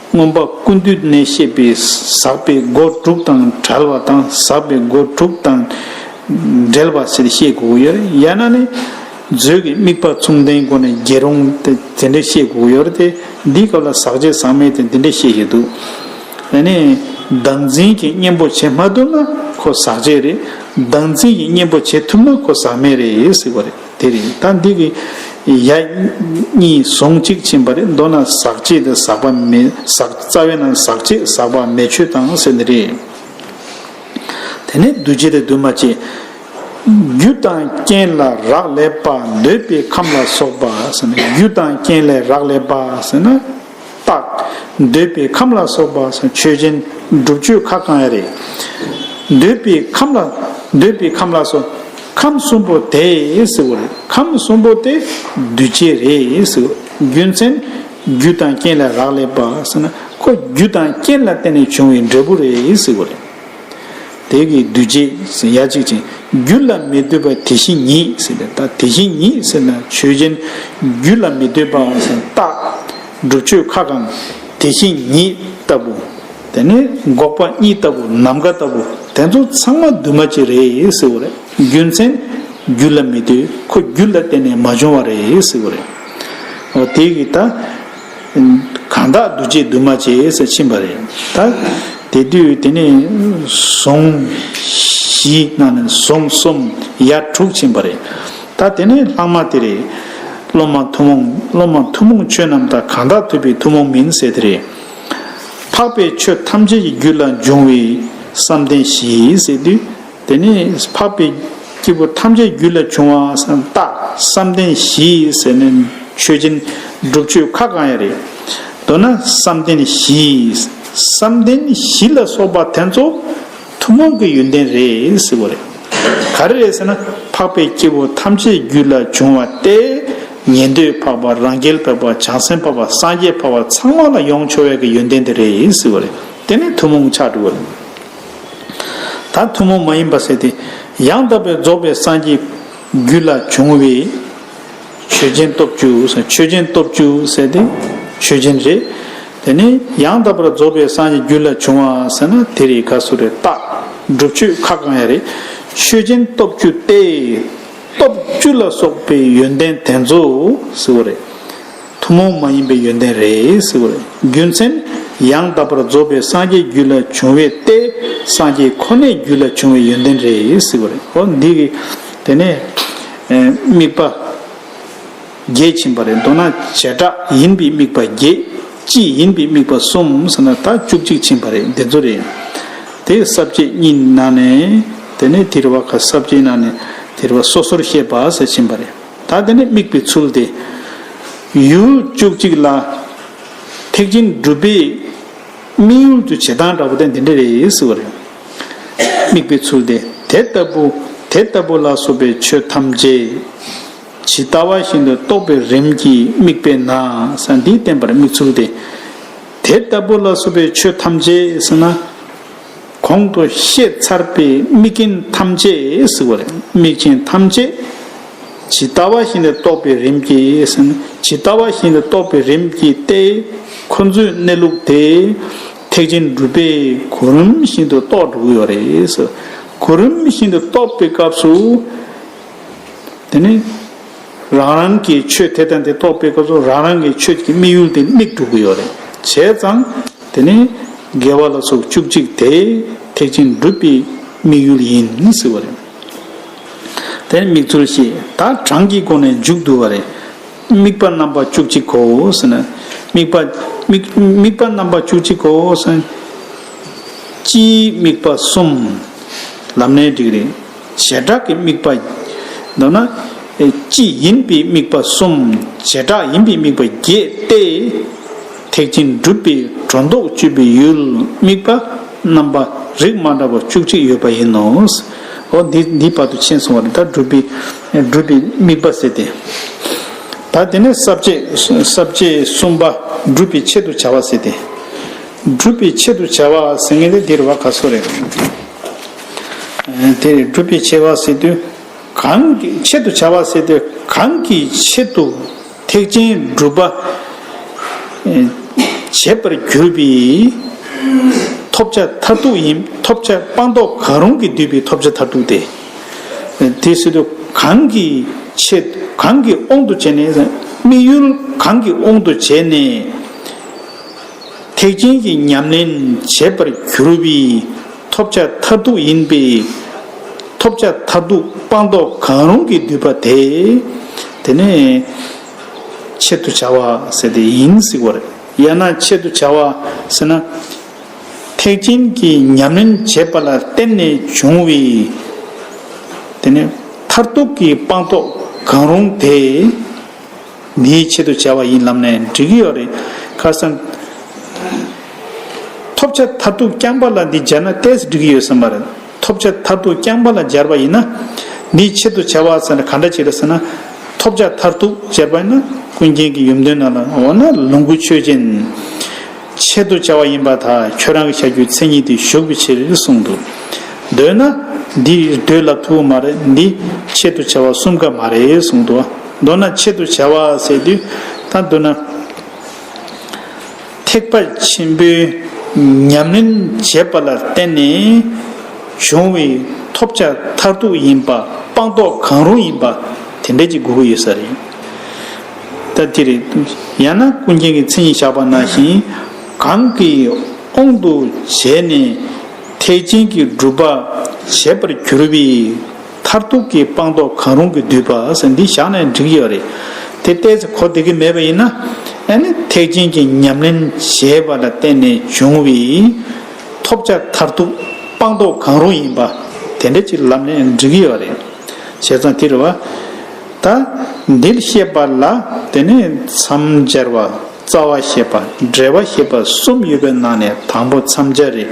མངོན་པ་ཀུན་འདུས་གནས་བཤད་པའི་ཟག་པའི་སྒོ་དྲུག་དང་བྲལ་བ་དང་ཟག་པའི་སྒོ་དྲུག་དང་འབྲེལ་བ་ཟེར་བཤད་དགོས་ཀྱི་ཡོད་ཡ་ན་ནི། མཛོད་ཀྱི་དམིགས་པ་མཚུངས་ལྡན་སྒོ་ནས་རྒྱལ་རུང་དེ་འདྲས་བཤད་དགོས་ཀྱི་ཡོད་དེ། འདིའི་སྐབས་ལ་ཟག་བཅས་ཟག་མེད་དེ་འདི་འདྲས་བཤད་བཞིན་འདུག་ད་ནི། བདག་འཛིན་གྱི་གཉེན་པོ་བྱེད་མ་ཐུབ་ན་ཁོ་ཟག་བཅས་རེད། བདག་འཛིན་གྱི་གཉེན་པོ་བྱེད་ཐུབ་ན་ཁོ་ཟག་མེད་རེད་ཟེར་བ་རེད། དེ་རེད་ད་འདི་གི། ཡ། གཉིས་ཟུང་གཅིག་ཕྱིན་པ་རེད་མདོར་ན་ཟག་བཅས་དང་ཟག་པ་མེད་ཟག་རྩ་བའི་ནང་ཟག་བཅས་ཟག་པ་མེད་ཆོས་དང་ཟེར་འདི་རེད། དེ་ནས་འདུས་བྱས་དང་འདུས་མ་བྱས། རྒྱུ་དང་རྐྱེན་ལ་རག་ལས་པ་འདོད་པའི་ཁམས་ལ་སོགས་པ་ཟེར་ན་རྒྱུ་དང་རྐྱེན་ལས་རག་ལས་པ་ཟེར་ན། རྟག། འདོད་པའི་ཁམས་ལ་སོགས་པ་ཆོས་ཅན། སྒྲུབ་མཆོད་ཁ་བསྐང་ཡ་རེ། འདོད་པའི་ཁམས་ལ། འདོད་པའི་ཁམས་ལ་སོགས། ཁམས་གསུམ་པོ་དེས་བསྲེ་བ་རེ། ཁམས་གསུམ་པོ་དེ་འདུལ་བྱེད་རེ། རྒྱུ་མཚན། རྒྱུ་དང་རྐྱེན་ལས་རག་ལས་པ། ཁོ་རྒྱུ་དང་རྐྱེན་ལ་བརྟེན་ནས་བྱུང་བའི་འབྲས་བུ་རེ་བསྲེ་བ་རེ། དེ་གི་འདུས་བྱས་ཡ་གཅིག་ཅིང་རྒྱུད་ལ་མི་ལྟོས་པ་དེ་བཞིན་ཉིད་ཟེར་ཏེ་དེ་བཞིན་ཉིད་ཟེར་ན་ཆོས་ཅན། རྒྱུད་ལ་མི་ལྟོས་པའང་ཟེར་ན་རྟག། སྒྲུབ་ཆོས་ཁ་གང་དེ་བཞིན་ཉིད་ལྟ་བུ། དེ་ནི་འགོག་པ་གཉིས་ལྟ་བུ་ནམ་མཁའ་ལྟ་བུ་དེ་ཚོ་ཚང་མ་འདུས་མ་བྱས་རེད་ཟེར་བ་རེད་རྒྱུ་མཚན། རྒྱུད་ལ་མི་ལྟོས་ཁོ་རྒྱུད་ལ་བརྟེན་ནས་མ་བྱུང་བ་རེད་ཟེར་བ་རེད། འོ་དེ་གི་ད། གང་དག་འདུ་བྱེད་འདུས་མ་བྱས་སུ་ཕྱིན་པ་རེད་ད། དེ་དུས་དེ་ནས་བཟུང་བཞི་གནང་ནས་བཟུང་གསུམ་ཡ་དྲུག་ཕྱིན་པ་རེད་ད། དེ་ནས་ལྷག་མ་དེ་རེད། སློབ་མ་ཐུན་མོང་སློབ་མ་ཐུན་མོང་ཆོས་རྣམས་དག་གང་དག་ཐོས་པའི་ཐུན་མོང་མིན་སེལ་དེ་རེད། འཕགས་པའི་ཆོས་ཐམས་ཅད་ཀྱི་རྒྱུད་ལ་འབྱུང་བའི་བསམ་གཏན་བཞི་སེལ་དུས་དེ་ནས་འཕགས་པའི་སྐྱེས་བུ་ཐམས་ཅད་རྒྱུད་ལ་བྱུང་བ་སྟག་བསམ་གཏན་བཞི་ཟེར་ནས་མཆོད་སྦྱིན་སྒྲུབ་མཆོད་ཁ་གང་ཡང་རེད། མདོར་ན་བསམ་གཏན་བཞི། བསམ་གཏན་བཞི་ལ་སོགས་པ་དེ་ཚོ་ཐུན་མོང་གི་ཡོན་ཏན་རེད་ཟེར་བ་རེད། ག་རེ་རེད་ཟེར་ན་འཕགས་པའི་སྐྱེས་བུ་ཐམས་ཅད་རྒྱུད་ལ་བྱུང་བ་སྟེ། ཉན་ཐོས་འཕགས་པ་རང་རྒྱལ་འཕགས་པ་བྱང་སེམས་འཕགས་པ་སངས་རྒྱས་འཕགས་པ་ཚང་མ་ལ་ཡོངས་འཕྱོ་བའི་ཡོན་ཏན་དེ་རེད་ཟེར་བ་རེད། དེ་ནི་ཐུན་མོང་ཆགས་འགྲོ་བ་རེད། ད་ཐུན་མོང་མ་ཡིན་པ་ཟེར་ཏེ། ཡང་དག་པའི་རྫོགས་པའི་སངས་རྒྱས་རྒྱུད་ལ་བྱུང་བའི། ཆོས་ཅན་སྟོབས་བཅུ་ཟེར་ཆོས་ཅན་སྟོབས་བཅུ་ཟེར་ཏེ། ཆོས་ཅན་རེད། དེ་ནས་ཡང་དག་པར་རྫོགས་པའི་སངས་རྒྱས་རྒྱུད་ལ་བྱུང་བ་ཟེར་ན་དེ་རེད་ག་སུ་རེད་བརྟག་སྒྲུབ་ཆོས་ཁ་གང་ཡང་རེད། ཆོས་ཅན་སྟོབས་བཅུ་སྟེ། སྟོབས་བཅུ་ལ་སོགས་པའི་ཡོན་ཏན་དེ་ཚོ་ཟེར་བ་རེད། ཐུན་མོང་མ་ཡིན་པའི་ཡོན་ཏན་རེད། རྒྱུ་མཚན། ཡང་དག་པར་རྫོགས་པའི་སངས་རྒྱས་རྒྱུད་ལ་བྱུང་བས་ཏེ། སངས་རྒྱས་ཁོ་ནའི་རྒྱུད་ལ་བྱུང་བའི་ཡོན་ཏན་རེད། ཧོ། འདི་གི། དེ་ནས། དམིགས་པ། བརྒྱད་བྱིན་པ་རེད། མདོར་ན། བྱེ་བྲག་ཡིན་པའི་དམིགས་པ་བརྒྱད། སྤྱི་ཡིན་པའི་དམིགས་པ་གསུམ་ཟེར་ན་ད་བཅུ་གཅིག་བྱིན་པ་རེད། འདི་ཚོ་རེད། དེ་ས་བཅད་གཉིས་ནང་ནས། དེ་ནས་དེར་བ་ཁ་ས་བཅད་ནང་ནས། དེར་བ་སོ་སོར་བཤད་པ་ཟེར་བྱིན་པ་རེད། ད་དེ་ནི་དམིགས་པའི་ཚུལ་ཏེ། ཡུལ་བཅུ་གཅིག་ལ། ཐེག་ཆེན་སྒྲུབ་པའི། དམིགས་ཡུལ་གྱི་བྱེད་སྟངས་འདྲ་བོ་དེ་འདི་འདྲ་རེད་ཟེར་བ་རེད། དམིགས་པའི་ཚུལ་ཏེ། དེ་ལྟ་བུ། དེ་ལྟ་བུ་ལ་སོགས་པའི་ཆོས་ཐམས་ཅད། ཇི་ལྟ་བ་བཞིན་དུ་རྟོགས་པའི་རིམ་གྱིས་དམིགས་པས་ན་ས་འདིས་བསྟན་པར་དམིགས་ཚུལ་ཏེ། དེ་ལྟ་བུ་ལ་སོགས་པའི་ཆོས་ཐམས་ཅད་ཟེར་ན། གོང་དུ་བཤད་ཚར་པའི་དམིགས་རྐྱེན་ཐམས་ཅད་ཟིག་པ་རེད་དམིགས་རྐྱེན་ཐམས་ཅད་ཇི་ལྟ་བ་བཞིན་དུ་རྟོགས་པའི་རིམ་གྱིས་ཟིན་ཇི་ལྟ་བ་བཞིན་དུ་རྟོགས་པའི་རིམ་གྱིས་ཏེ། ཁོ་ཚོའི་གནས་ལུགས་དེ་ཐེག་ཆེན་སྒྲུབ་པའི་གོ་རིམ་བཞིན་དུ་རྟོགས་འགྲོ་གི་ཡོད་རེད། གོ་རིམ་བཞིན་དུ་རྟོགས་པའི་སྐབས་སུ། དེ་ནི། རང་རང་གི་ཆོས་དེ་དང་དེ་རྟོགས་པའི་སྐབས་སུ་རང་རང་གི་ཆོས་ཀྱི་དམིགས་ཡུལ་དེ་དམིགས་གྲུབ་ཀྱི་ཡོད་རེད་བྱས་ཙང། དེ་ནི་དགེ་བ་ལ་སོགས་བཅུ་གཅིག་དེ་ཐེག་ཆེན་སྒྲུབ་པའི་དམིགས་ཡུལ་ཡིན་ཟེར་བ་རེད། དེར་དམིགས་ཚུལ་ཞེས་དག་གྲངས་ཀྱི་སྒོ་ནས་འཇུག་བསྡུ་བ་རེད། དམིགས་པ་རྣམ་པ་བཅུ་གཅིག་གོ་ཟེར་ན། དམིགས་པ། དམིགས་པ་རྣམ་པ་བཅུ་གཅིག་གོ་ཟེར་ན། སྤྱིའི་དམིགས་པ་གསུམ། ལམ་སྣེ་འགྲིག་རེད། བྱེ་བྲག་གི་དམིགས་པ། མདོར་ན། སྤྱི་ཡིན་པའི་དམིགས་པ་གསུམ། བྱེ་བྲག་ཡིན་པའི་དམིགས་པ་བརྒྱད་དེ། ཐེག་ཆེན་སྒྲུབ་པའི་སྒྲོ་འདོགས་གཅོད་པའི་ཡུལ་དམིགས་པ། རྣམ་པ་རིགས་མ་འདྲ་བ་བཅུ་གཅིག་ཡོད་པ་ཡིན་ནོ། འོ་འདི་འདིའི་བར་དུ་མཆན་སོང་བ་རེད་ད་སྒྲུབ་པའི་སྒྲུབ་པའི་དམིགས་པ་ཟེར་ཏེ། ད་དེ་ནས་ཟབ་བྱེད་ཟབ་བྱེད་གསུམ་པ་སྒྲུབ་པའི་ཆེད་དུ་བྱ་བ་ཟེར་ཏེ། སྒྲུབ་པའི་ཆེད་དུ་བྱ་བ་ཟེར་ངེས་ཏེ་འདིར་བ་ག་སོགས་རེད། དེ་ནི་སྒྲུབ་པའི་ཆེ་བ་སེལ་དུས་གང། ཆེད་དུ་བྱ་བ་སེལ་དུས་གང་གི་ཆེད་དུ་ཐེག་ཆེན་སྒྲུབ་པ་བྱེད་པར་གྱུར་པའི་ཐོབ་བྱ་མཐར་ཐུག་ཡིན་ཐོབ་བྱ་སྤངས་རྟོགས་གང་རུང་གིས་བསྡུས་པའི་ཐོབ་བྱ་མཐར་ཐུག་སྟེ། དེ་སེལ་དུས་གང་གི་ཆེད་གང་གི་དབང་དུ་བྱས་ནས་དམིགས་ཡུལ་གང་གི་དབང་དུ་བྱས་ནས་ཐེག་ཆེན་གྱི་ཉམས་ལེན་བྱེད་པར་གྱུར་པའི། ཐོབ་བྱ་མཐར་ཐུག་ཡིན་པས། ཐོབ་བྱ་མཐར་ཐུག་སྤངས་རྟོགས་གང་རུང་གིས་བསྡུས་པ་དེ། དེ་ནི། ཆེད་དུ་བྱ་བ་ཟེར་ཏེ་ཡིན་གཟིགས་བར། ཡང་ན་ཆེད་དུ་བྱ་བ་ཟེར་ན། ཐེག་ཆེན་གྱི་ཉམས་ལེན་བྱེད་པ་ལ་བརྟེན་ནས་བྱུང་བས། དེ་ནི་མཐར་ཐུག་གི་སྤངས་རྟོགས་གང་རུང་དེ། ངས་ཆེད་དུ་བྱས་བ་ཡིན་ལབ་ནས་འགྲིག་གི་ཡོད་རེད་ཁར་སེམས། ཐོབ་ཆ་མཐར་ཐུག་རྐྱང་པ་ལ་འདི་སྦྱར་ན་ལྟས་འགྲིག་གི་ཡོད་ཟེར་མ་རེད་ཐོབ་ཆ་མཐར་ཐུག་རྐྱང་པ་ལ་སྦྱར་བ་ཡིན་ན། འདི་ཆེད་དུ་བྱས་བ་ཟེར་ན་ག་འདྲ་བྱེད་རེད་ཟེར་ན། ཐོབ་ཆ་མཐར་ཐུག་སྦྱར་བ་ཡིན་ན་ཀུན་མཁྱེན་གྱི་ཡུམ་དོན་ནང་ལ་འོ་ན་ལོངས་སྐུ་ཆོས་ཅན། ཆེད་དུ་བྱས་བ་ཡིན་པ་དག་ཁྱོད་རང་གི་བྱ་རྒྱུའི་མཚན་ཉིད་དེ་ཞུགས་པའི་ཕྱིར་གསུངས་འདུག་འདོད་ན། འདི་འདོད་ལབ་ཐུབ་མ་རེད་འདི་ཆེད་དུ་བྱས་བ་གསུམ་ཀ་མ་རེད་གསུངས་འདུག་ཨ། མདོར་ན་ཆེད་དུ་བྱ་བ་ཟེར་དུས་དང་བསྡུར་ན། ཐེག་པ་ཆེན་པོའི་ཉམས་ལེན་བྱེད་པ་ལ་བརྟེན་ནས་བྱུང་བའི་ཐོབ་བྱ་མཐར་ཐུག་ཡིན་པ་སྤངས་རྟོགས་གང་རུང་ཡིན་པ་དེ་འདྲས་ཀྱི་དགོས་ཀྱི་ཡོད་ས་རེད་ད་དེ་རེད། ཡང་ན་ཀུན་མཁྱེན་གྱི་མཚན་ཉིད་བཞག་པ་ནང་བཞིན་གང་གི་དབང་དུ་བྱས་ནས་ཐེག་ཆེན་གྱི་སྒྲུབ་པ་བྱེད་པར་གྱུར་པའི། མཐར་ཐུག་གི་སྤངས་རྟོགས་གང་རུང་གིས་བསྡུས་པ་ཟེར་འདི་བཞག་ནས་འགྲིག་ཡོད་རེད། དེ་བལྟས་ཚེ་གོ་བདེ་གི་མེད་པ་ཡིན་ན། ཨེ་ནི་ཐེག་ཆེན་གྱི་ཉམས་ལེན་ཞེས་པ་ལ་བརྟེན་ནས་བྱུང་བའི། ཐོབ་བྱ་མཐར་ཐུག་སྤངས་རྟོགས་གང་རུང་ཡིན་པ། དེ་འདྲ་ཅིག་ལབ་ནས་འགྲིག་གི་ཡོད་རེད། བྱས་ཙང་དེ་རེད་བ། ད། འདིར་བཤད་པ་ལ་དེ་ནི་མཚམས་སྦྱར་བ། རྩ་བ་ཞེས་པ། འབྲེལ་བ་ཞེས་པ་གསུམ་ཡོད་པའི་ནང་ནས་དང་པོ་མཚམས་སྦྱར་རེད།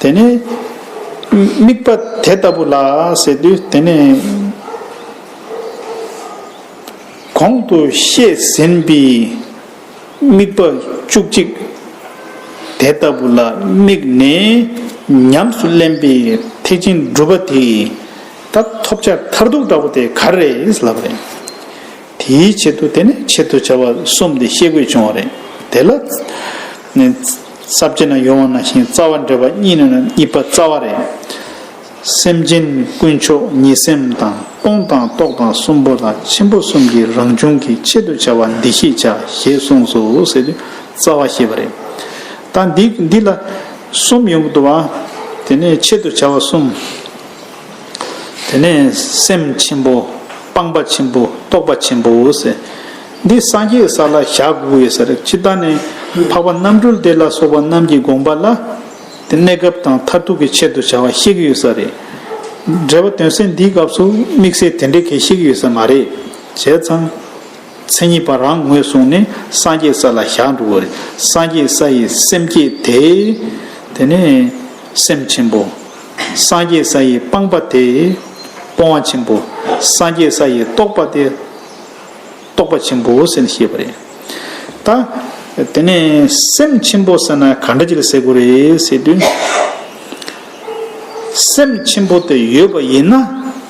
དེ་ནས། དམིགས་པ་དེ་ལྟ་བུ་ལ་ཟེར་དུས་དེ་ནས། གོང་དུ་བཤད་ཟིན་པའི་དམིགས་པ་བཅུ་གཅིག་དེ་ལྟ་བུ་ལ་དམིགས་ནས་ཉམས་སུ་ལེན་པའི་ཐེག་ཆེན་སྒྲུབ་པ་དེ་ད་ཐོབ་བྱ་མཐར་ཐུག་འདྲ་བོ་དེ་ག་རེད་ལབ་རེད། དེའི་ཆེད་དུ་དེ་ནས་ཆེད་དུ་བྱ་བ་གསུམ་དེ་བཤད་དགོས་བྱུང་བ་རེད་དེ་ལ། རྩ་བརྒྱད་ན་ཡོང་བ་ན་ཞིང་རྩ་བ་འདྲེས་པ་གཉིས་ན་ན་གཉིས་པ་རྩ་བ་རེ། སེམས་ཅན་ཀུན་མཆོག་ཉིད་སེམས་དང་སྟོང་དང་རྟོགས་དང་གསུམ་པོ་དང་ཆེན་པོ་གསུམ་གྱི་རང་བྱུང་གི་ཆེད་དུ་བྱ་བ་འདི་ཤེས་བྱ་ཞེས་གསུངས་སོ་ཟེར་དུས་རྩ་བ་ཤེས་པ་རེ། ད་འདི་འདི་ལ་གསུམ་ཡོང་གི་འདུག་བ། དེ་ནས་ཆེད་དུ་བྱ་བ་གསུམ། དེ་ནས་སེམས་ཆེན་པོ་སྤངས་པ་ཆེན་པོ་རྟོགས་པ་ཆེན་པོ་ཟེར། འདི་སངས་རྒྱས་ས་ལ་བཞག་གོ་བའི་ཟེར་ཅི་ལྟར་ནི། འཕགས་པ་རྣམ་གྲོལ་དེ་ལ་སོགས་པ་རྣམས་ཀྱི་དགོངས་པ་ལ། དེ་གནས་སྐབས་དང་མཐར་ཐུག་གི་ཆེད་དུ་བྱ་བ་གཤེགས་ཡོད་ས་རེད། འགྲེལ་བ་དོན་གསལ་འདིའི་སྐབས་སུ་དམིགས་བསལ་དེ་འདྲའི་གེགས་གཤེགས་ཡོད་ས་མ་རེད། བྱས་ཙང། མཚན་ཉིད་པ་རང་ངོས་བཟུང་ནས་སངས་རྒྱས་ས་ལ་བཞག་འགྲོ་བ་རེད། སངས་རྒྱས་ས་ཡི་སེམས་བསྐྱེད་དེ། དེ་ནི། སེམས་ཆེན་པོ། སངས་རྒྱས་ས་ཡི་སྤངས་པ་དེ། སྤོང་བ་ཆེན་པོ། སངས་རྒྱས་ས་ཡི་རྟོགས་པ་དེ། རྟོགས་པ་ཆེན་པོ་ཟེར་ནས་བཤད་པ་རེད། ད་དེ་ནས་སེམས་ཆེན་པོ་ཟེར་ན་ག་འདྲ་ཅིག་ལ་ཟེར་དགོས་རེད་ཟེར་དུས། སེམས་ཆེན་པོ་དེ་ཡོད་པ་ཡིན་ན་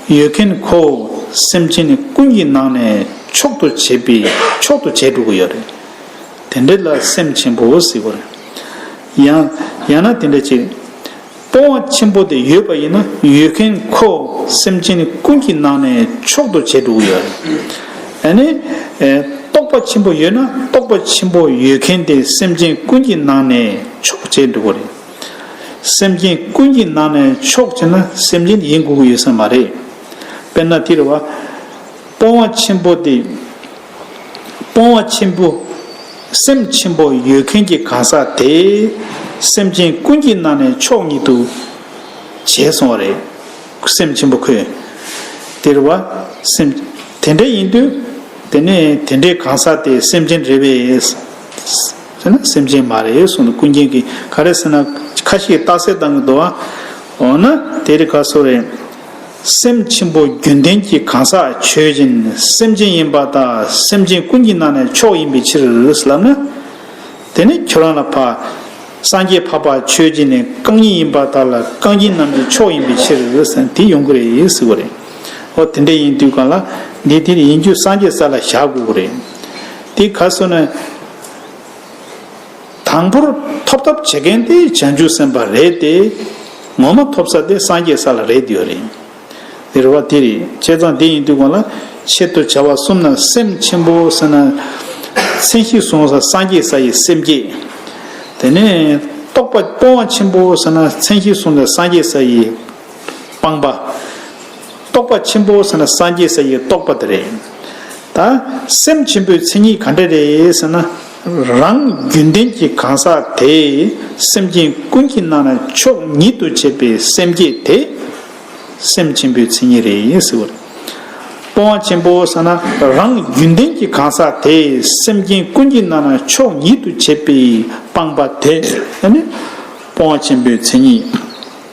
ཡོད་མཁན་ཁོ་བོ་སེམས་ཅན་ནི་ཀུན་གྱི་ནང་ནས་མཆོག་ཏུ་བྱས་པའི་མཆོག་ཏུ་བྱས་འགྲོ་གི་ཡོད་རེད། དེ་འདྲ་ལ་སེམས་ཆེན་པོ་ཟེར་དགོས་རེད། ཡང་ཡང་ན་དེ་འདྲ་ཅིག། སྤོང་བ་ཆེན་པོ་དེ་ཡོད་པ་ཡིན་ན་ཡོད་མཁན་ཁོ་སེམས་ཅན་ཀུན་གྱི་ནང་ནས་མཆོག་ཏུ་བྱས་འགྲོ་གི་ཡོད། ད་ནི། རྟོགས་པ་ཆེན་པོ་ཡོད་ན་རྟོགས་པ་ཆེན་པོ་ཡོད་མཁན་དེ་སེམས་ཅན་ཀུན་གྱི་ནང་ནས་མཆོག་བྱས་འགྲོ་གི་རེད། སེམས་ཅན་ཀུན་གྱི་ནང་ནས་མཆོག་བྱས་ན་སེམས་ཅན་ཡིན་དགོས་ཀྱི་ཡོད་ས་མ་རེད། དཔེར་ན་དེ་རེད་བ། སྤོང་བ་ཆེན་པོ་དེ། སྤོང་བ་ཆེན་པོ། སེམས་ཆེན་པོ་ཡོད་མཁན་གྱི་གང་ཟག་དེས་སེམས་ཅན་ཀུན་གྱི་ནང་ནས་མཆོག་ཉིད་དུ་བྱས་སོང་བ་རེད། སེམས་ཆེན་པོ་ཁོས། དེར་བ། སེམས། དེ་འདྲ་ཡིན་དུས། དེ་ནས་དེ་འདྲའི་གང་ཟག་དེ་སེམས་ཅན་རེད་བས། ཟེར་ན་སེམས་ཅན་མ་རེད་གསུངས་འདུག་ཀུན་མཁྱེན་གྱིས་ག་རེ་ཟེར་ན་ཁ་ཤས་རྟགས་གསལ་བཏང་གི་འདུག་ཨ། འོ་ན་དེ་རིགས་ག་སོགས་རེད། སེམས་ཆེན་པོ་རྒྱུན་ལྡན་གྱི་གང་ཟག་ཆོས་ཅན་སེམས་ཅན་ཡིན་པ་དང་སེམས་ཅན་ཀུན་གྱི་ནང་ནས་མཆོག་ཡིན་པའི་ཕྱིར་ལབ་ན། དེ་ནི་ཁྱོད་རང་ལ་འཕགས། སངས་རྒྱས་འཕགས་པ་ཆོས་ཅན་ནི་རྐང་གཉིས་ཡིན་པ་དག་ལ་རྐང་གཉིས་རྣམས་ཀྱི་མཆོག་ཡིན་པའི་ཕྱིར་དེ་ཡོང་གི་རེད་ཟེར་བ་རེད། འོ་དེ་འདྲ་ཡིན་དུས་གང་ལ་འདི་དེ་ཡིན་རྒྱུ་སངས་རྒྱས་ས་ལ་བཞག་དགོས་ཀྱི་རེད། དེ་ག་སོ་ན། དང་པོར་ཐོབ་ཐབས་བྱེད་མཁན་དེ་བྱང་ཆུབ་སེམས་དཔའ་རེད་དེ། ངོ་མ་ཐོབ་ས་དེ་སངས་རྒྱས་ས་ལ་རེད་དེ་ཡོད་རེད། འདིར་བ་དེ་རེད་བྱས་ཙང་དེ་ཡིན་དུས་གོང་ལ་ཆེད་དུ་བྱ་བ་གསུམ་ན་སེམས་ཆེན་པོ་ཟེར་ན། མཚན་གཞི་བཟུང་ས་སངས་རྒྱས་ས་ཡི་སེམས་བསྐྱེད། དེ་ནས་རྟོག་པ་སྤོང་བ་ཆེན་པོ་ཟེར་ན་མཚན་གཞི་བཟུང་ས་སངས་རྒྱས་ས་ཡི་སྤངས་པ། རྟོག་པ་ཆེན་པོ་ཟེར་ན་སངས་རྒྱས་ས་ཡི་རྟོགས་པ་དེ་རེད། ད་སེམས་ཆེན་པོའི་མཚན་ཉིད་ག་འདྲ་རེད་ཟེར་ན། རང་རྒྱུན་ལྡན་གྱི་གང་ཟག་དེས་སེམས་ཅན་ཀུན་གྱི་ནང་ན་ཆོས་ཉིད་དུ་བྱེད་པའི་སེམས་བསྐྱེད་དེ། སེམས་ཆེན་པོའི་མཚན་ཉིད་རེད་ཟེར་བ་རེད། སྤོང་བ་ཆེན་པོ་ཟེར་ན་རང་རྒྱུན་ལྡན་གྱི་གང་ཟག་དེས་སེམས་ཅན་ཀུན་གྱི་ནང་ན་ཆོས་ཉིད་དུ་བྱེད་པའི་སྤངས་པ་དེ་ནི་སྤོང་བ་ཆེན་པོའི་མཚན་ཉིད།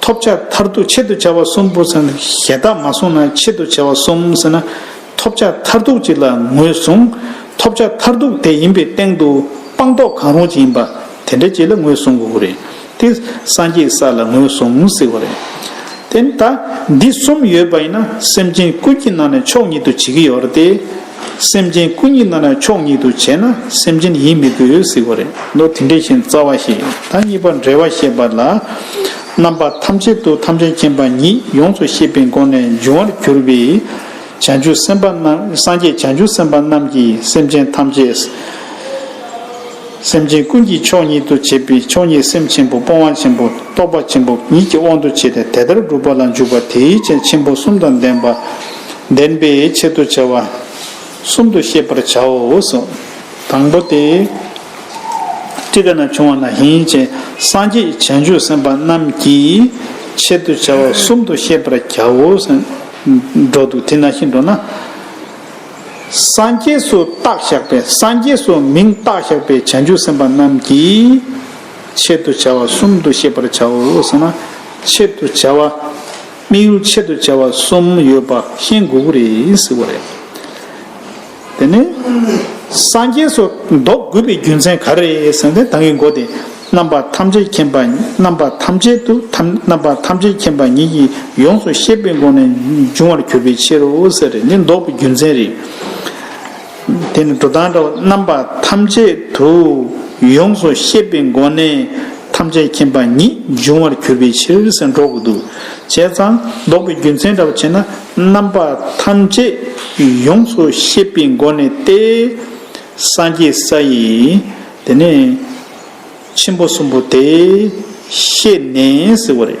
ཐོབ་བྱ་མཐར་ཐུག་ཆེད་དུ་བྱ་བ་གསུམ་པོ་ཟེར་ན་ཞེ་དག་མ་གསུངས་ན་ཆེད་དུ་བྱ་བ་གསུམ་ཟེར་ན་ཐོབ་བྱ་མཐར་ཐུག་ཅིག་ལ་ངོས་བཟུང། ཐོབ་བྱ་མཐར་ཐུག་དེ་ཡིན་པའི་སྟེང་དུ་སྤངས་རྟོགས་གང་རུང་ཅིག་ཡིན་པ་དེ་འདྲ་ཅིག་ལ་ངོས་བཟུང་དགོས་ཀྱི་རེད་དེ། སངས་རྒྱས་ས་ལ་ངོས་བཟུང་ཟེར་བ་རེད། དེ་ནི་ད་འདི་གསུམ་ཡོད་པ་ཡིན་ན་སེམས་ཅན་ཀུན་གྱི་ནང་ནས་མཆོག་ཉིད་དུ་བྱེད་ཀྱི་ཡོད་རེད་དེ། སེམས་ཅན་སྐུ་ཉིད་རྣམས་ལ་ཕྱོགས་ཉིད་དུ་བྱས་ན་སེམས་ཅན་ཡིན་མི་དགོས་ཟིག་གོ་རེ། མདོ་དེ་འདྲས་བཞིན་རྩ་བ་ཞེས་ད་གཉིས་པ་འབྲེལ་བ་བཤད་པ་ལ། རྣམ་པ་ཐམས་ཅད་དུ་ཐམས་ཅད་མཁྱེན་པ་ཉིད་ཡོངས་སུ་ཤེས་པའི་སྒོ་ནས་འབྱུང་བར་གྱུར་པའི། བྱང་ཆུབ་སེམས་དཔའ་རྣམས་སངས་རྒྱས་བྱང་ཆུབ་སེམས་དཔའ་རྣམས་ཀྱིས་སེམས་ཅན་ཐམས་ཅད། སེམས་ཅན་ཀུན་གྱི་ཕྱོགས་ཉིད་དུ་བྱས་པའི་ཕྱོགས་ཉིད་སེམས་ཆེན་པོ་སྤོང་བ་ཆེན་པོ་རྟོགས་པ་ཆེན་པོ་ཉིད་ཀྱི་དབང་དུ་བྱས་ཏེ་དེ་ལྟར་བསྒྲུབ་པ་ལ་འཇུག་པ་དེའི་ཆེད་ཆེན་པོ་གསུམ་དང་ལྡན་པ། བདེན་པའི་ཆེད་དུ་བྱ་བ་གསུམ་དུ་ཤེས་པར་བྱའོ། དང་པོ་སྟེ། ཅི་དགའ་ན་བྱུང་བ་ན་ཧིན་ཅེ་སངས་རྒྱས་བྱང་ཆུབ་སེམས་དཔའ་རྣམས་ཀྱི་ཆེད་དུ་བྱ་བ་གསུམ་དུ་ཤེས་པར་བྱའོ། འགྲོ་འདུག་དེ་ན་ཤི་འགྲོ་ན། སངས་རྒྱས་སུ་རྟག་བཞག་པའི་སངས་རྒྱས་སུ་མིང་རྟག་བཞག་པའི་བྱང་ཆུབ་སེམས་དཔའ་རྣམས་ཀྱི་ཆེད་དུ་བྱ་བ་གསུམ་དུ་ཤེས་པར་བྱའོ། ཆེད་དུ་བྱ་བ། དམིགས་ཡུལ་ཆེད་དུ་བྱ་བ་གསུམ་ཡོད་པ་ཤེས་དགོས་ཀྱི་རེད་ཟེར་བ་རེད། དེ་ནས། སངས་རྒྱས་སུ་འདོགས་དགོས་པའི་རྒྱུ་མཚན་ག་རེ་ཟེར་ན་ད་གིན་མགོ་སྟེ་རྣམ་པ་ཐམས་ཅད་མཁྱེན་པ་རྣམ་པ་ཐམས་ཅད་དུ་རྣམ་པ་ཐམས་ཅད་མཁྱེན་པ་ཉིད་ཀྱིས་ཡོངས་སུ་ཤེས་པའི་སྒོ་ནས་འབྱུང་བར་གྱུར་པའི་ཕྱིར་རོ་ཟེར་རེད་འདི་འདོགས་པའི་རྒྱུ་མཚན་རེད། དེ་ནི་འགྲོ་དང་འདྲ་བ་རྣམ་པ་ཐམས་ཅད་དུ་ཡོངས་སུ་ཤེས་པའི་སྒོ་ནས་ཐམས་ཅད་མཁྱེན་པ་ཉིད་འབྱུང་བར་གྱུར་པའི་ཕྱིར་སེམས་འགྲོ་དགུ་འདུ་བྱེད་ཙམ་བཟློག་པའི་རྒྱུ་མཚན་འདྲ་བར་བྱེད་ན་རྣམ་པ་ཐམས་ཅད་ཡོངས་སུ་ཤེས་པའི་སྒོ་ནས་ཏེ། སངས་རྒྱས་ས་ཡི་དེ་ནས་ཆེན་པོ་གསུམ་པོ་དེ་ཤེས་ནས་ཟེར་བ་རེད།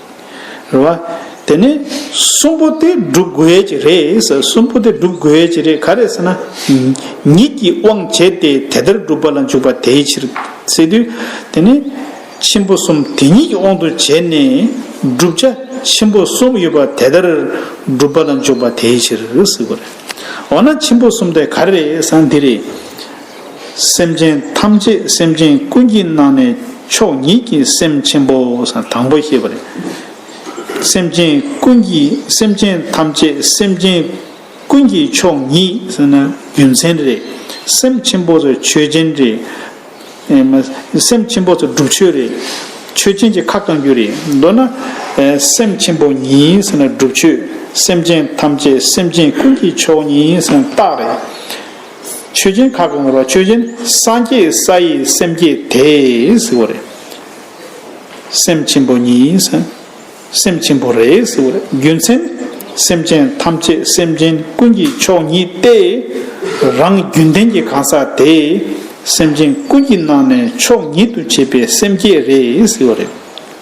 རེད་བ། དེ་ནས་གསུམ་པོ་དེ་སྒྲུབ་དགོས་ཀྱི་རེད་ཟེར་གསུམ་པོ་དེ་སྒྲུབ་དགོས་ཀྱི་རེད་ག་རེད་ཟེར་ན། ཉིད་ཀྱི་དབང་བྱས་ཏེ་དེ་ལྟར་སྒྲུབ་པ་ལ་འཇུག་པ་དེའི་ཕྱིར། ཟེར་དུས། དེ་ནས་ཆེན་པོ་གསུམ་དེ་ཉིད་ཀྱི་དབང་དུ་བྱས་ནས་བསྒྲུབ་བྱ་ཆེན་པོ་གསུམ་ཡོད་པ་དེ་ལྟར་སྒྲུབ་པ་ལ་འཇུག་པ་དེའི་ཕྱིར་ཟེར་བ་རེད། འོ་ན་ཆེན་པོ་གསུམ་དེ་ག་རེ་རེད་ཟེར་ན་འདི་རེད། སེམས་ཅན་ཐམས་ཅད་སེམས་ཅན་ཀུན་གྱི་ནང་ནས་མཆོག་ཉིད་ཀྱི་སེམས་ཆེན་པོ་དང་པོ་ཞེས་པ་རེད། སེམས་ཅན་ཀུན་གྱི་སེམས་ཅན་ཐམས་ཅད་སེམས་ཅན་ཀུན་གྱི་མཆོག་ཉིད་ཟེར་ན་རྒྱུ་མཚན་རེད། སེམས་ཆེན་པོ་སོགས་ཆོས་ཅན་རེད། སེམས་ཆེན་པོ་སོགས་སྒྲུབ་ཆོས་རེད། ཆོས་ཅན་གྱི་ཁ་བསྐང་རྒྱུ་རེད། མདོར་ན། སེམས་ཆེན་པོ་ཉིད་ཟེར་ན་སྒྲུབ་ཆོས་སེམས་ཅན་ཐམས་ཅད་སེམས་ཅན་ཀུན་གྱི་མཆོག་ཉིད་ཟེར་ན་རྟགས་རེད། ཆོས་ཅན་ཁ་གང་ངོར་བ་ཆོས་ཅན་སངས་རྒྱས་ས་ཡི་སེམས་བསྐྱེད་དེས་ཟེར་བ་རེད། སེམས་ཆེན་པོ་གཉིས་སམ། སེམས་ཆེན་པོ་རེ་ཟེར་བ་རེད་རྒྱུ་མཚན། སེམས་ཅན་ཐམས་ཅད་སེམས་ཅན་ཀུན་གྱི་མཆོག་ཉིད་དེ། རང་རྒྱུན་ལྡན་གྱི་གང་ཟག་དེས་སེམས་ཅན་ཀུན་གྱི་ནང་ནས་མཆོག་ཉིད་དུ་བྱས་པའི་སེམས་བསྐྱེད་རེད་ཟེར་བ་རེད།